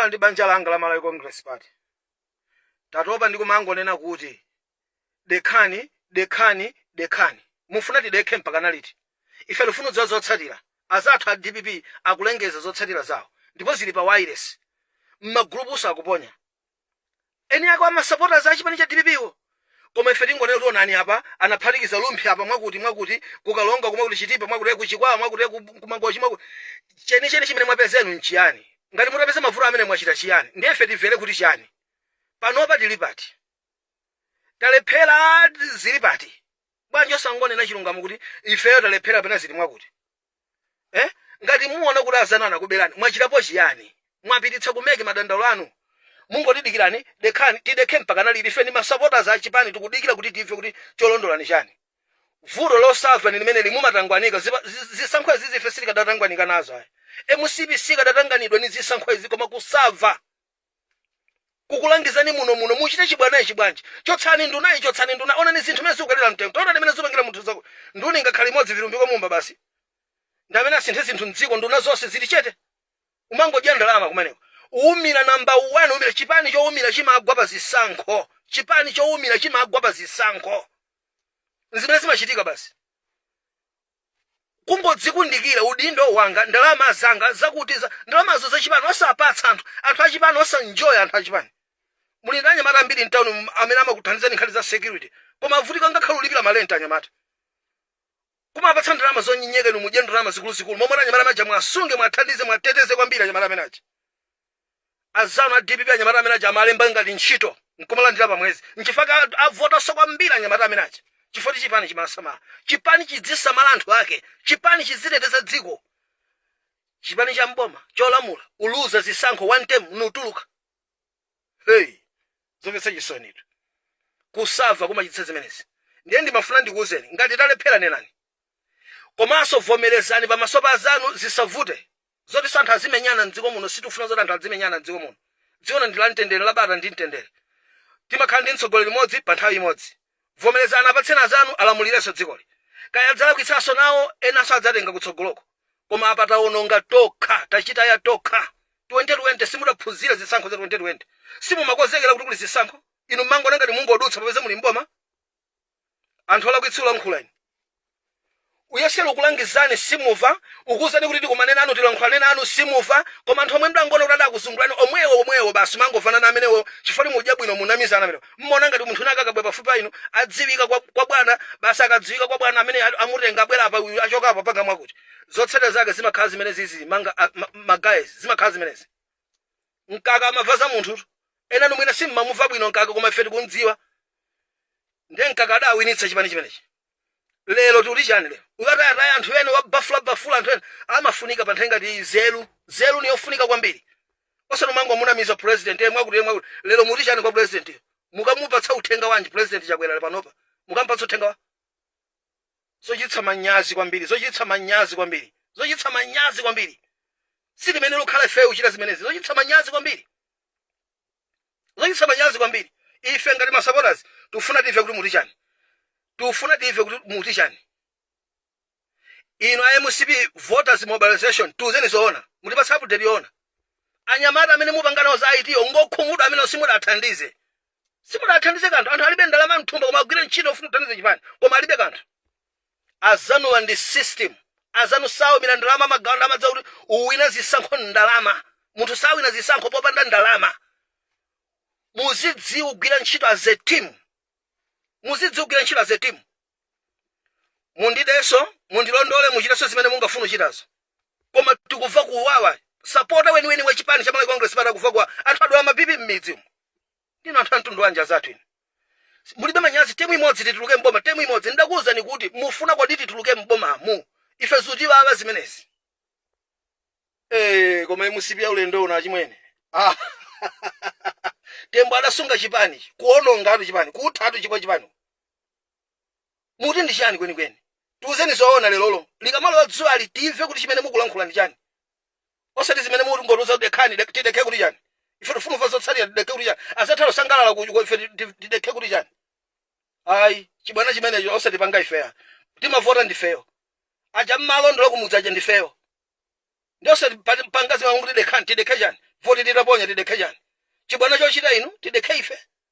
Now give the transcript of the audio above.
ndi banja langa la malawi congress party tatopa ndi kumangonena kuti Dekhani, dekhani, dekhani. Mufuna tidekhe mpakana liti? Ife tifuna kudziwa zotsatira. Azathu a dpp akulengeza zotsatira zawo ndipo zili pa wailesi. Mmagulupunso akuponya. Eni ake ma supporters a chipani cha dpp wo. Koma ife tingonena kuti onani apa anaphatikiza Rumphi apa mwakuti, mwakuti, ku Karonga ku mwakuti Chitipa mwakuti, ku Chikwawa mwakuti, ku ku Mangochi mwakuti. Chenicheni chimene mwapeza inu nchiyani? Ngati mutapeza mavuto amene mwachita chiyani? Ndiye ife timvere kuti chani? Panopa tili pati? talephera zili pati bwanji osangonena chilungamo kuti ifeyo talephera kapena zili mwakuti eh? ngati muona kuti azanu anakuberani mwachitapo chiyani mwapititsa ku MEC madandaulo anu mungotidikirani dekhani tidekhe mpaka naliti ife ndi masapoters a chipani tikudikira kuti timve kuti cholondola nchani vuto losava ni limene likumatangwanika Zipa- zi- zisankho izizi ife sitikadatangwanika nazo ayi mcp sikadatanganidwa ni zisankho izi koma kusava kukulangizani muno muno mukuchita chibwana ichi bwanji chotsani nduna iyi chotsani nduna onani zinthu mene zikukwerera mtengo taona ndi mmene zikupangira munthu zako nduna ngakhale imodzi vilumbiko mumba basi ndi amene asinthe zinthu mdziko nduna zonse zili chete kumangodya ndalama kumeneko kuwumira namba 1 kuwumira chipani chowumira chimagwa pa zisankho chipani chowumira chimagwa pa zisankho nzimene zimachitika basi kungodzikundikira udindo wanga ndalama zanga zakuti za ndalamazo za chipani osapatsa anthu anthu achipani osaenjoya anthu achipani muli ndi anyamata ambiri mtawuni muno amene amakuthandizani nkhani za security koma avutika ngakhale kulipira marenti anyamata kumapatsa ndalama zonyenyeka inu mudye ndalama zikuluzikulu momwe anyamata amene aja mwasunge mwathandize mwateteze kwambiri anyamata amene aja Anzanu a dpp anyamata amene aja amalemba ngati ntchito nkumalandira pa mwezi nchifukwa chake avotaso kwambiri anyamata amene aja chifukwa choti chipani chimasamala chipani chidzisamala anthu ake chipani chidziteteza dziko chipani cha mboma cholamula kuluza zisankho one term nkutuluka hey zomvetsa chisonitu kusava kumachititsa zimenezi ndiye ndimafuna ndikuwuzeni ngati talephera nenani komanso vomerezani pamaso pa azanu zisavute Zoti anthu azimenyana mdziko muno sitikufuna zoti anthu adzimenyana mdziko muno dziko lino ndi la mtendere la bata ndi mtendere timakhala ndi mtsogoleri mmodzi pa nthawi imodzi vomerezani apatseni azanu alamulireso dzikoli kaya adzalakwitsaso nawo enaso adzatenga kutsogoloko koma apa tawononga tokha tachitaya tokha 2020 simudaphunzire zisankho za 2020 simumakozekera kuti kuli zisankho inu mmangoona ngati mungodutsa popeza muli mboma anthu olakwitsa ulankhula inu uyesa ukulangizani simuva ukuwuzani kuti tikumane nanu tilankhulane nanu simuva koma anthu omwe mdangona kuti adakuzungulani omwewo omwewo basi mangovana ndi amenewo chifukwa mudya bwino munamizana amenewo mmona ngati munthu wina akabwera pafupi pa inu adziwika kwa, kwa bwana basi akadziwika kwa bwana amene ali- amutenga abwera apa uyu achoka apa panga mwakuti zotsatira zake zimakhala zimene zizi manga a- ma- ma guys zimakhala zimenezi mkaka amava za anthu ena mwina simmamuva bwino mkaka koma ife tikumdziwa ndiye mkaka adawinitsa chipani chimenechi lero tikuti chani lero ukatayataya anthu ena wabafulabafula anthu ena amafunika pa nthawi ngati ino nzeru ni yofunika kwambiri osati umangomunamiza president yemwe akuti yemwe akuti lero muti chani kwa president mukamupatsa uthenga wanji president Chakwera panopa mukamupatsa uthenga wa zochititsa manyazi kwambiri zochititsa manyazi kwambiri zochititsa manyazi kwambiri sitimayenera kukhala ifeyo kuchita zimenezi zochititsa manyazi kwambiri zochititsa manyazi kwambiri ife ngati masupporters tifuna tive kuti muti chani tifuna tive kuti muti chani inu a MCP voters mobilization tiuzeni zoona mutipatse update yoona anyamata amene mupanganawo za it ngokhumudwa amene simudathandize simudathandize kanthu anthu alibe ndalama mthumba koma agwira ntchito ofuna kuthandiza chipani koma alibe kanthu azanuwa ndi system azanu saumira ndalama amagawa ndalama zakuti uwina zisankho ndalama munthu sawina zisankho popanda ndalama muzidziwa ugwira ntchito as a team muzidziwa ugwira ntchito as a team mundideso mundilondole muchitenso zimene mungafuna uchitazo koma tikuva kuwawa sapota weniweni wa chipani cha Malawi Congress Party akuva kuwawa anthu adwala ma BP mmidzi umu ndinu anthu amtundu wanji anzathu inu mulibe manyazi temu imodzi tituluke mboma temu imodzi ndidakuwuzani kuti mufuna kuti tituluke mbomamu ife zutiwawa zimenezi Eh, koma MCP ya ulendo uno achimwene ah. Tembo adasunga chipani kuonongatu chipani kuthatu chipwa chipani muti ndi chani kwenikweni tiuzeni zoona lerolo likamalowa dzuwali timve kuti chimene mukulankhula ndi chani osati zimene mungotiuza kuti dekhani dek- tidekhe kuti chani ife tifuna kumva zotsatira tidekhe kuti chani azathu akusangalala kuko ife ti- ti- tidekhe kuti chani ayi chibwana chimenecho osatipanga ife ayi timavota ndifeyo aja mmalondola kumudzi aja ndifeyo ndi osatipanga zimene kuti dekhani tidekhe chani voti titaponya tidekhe chani chibwana chochita inu tidekhe ife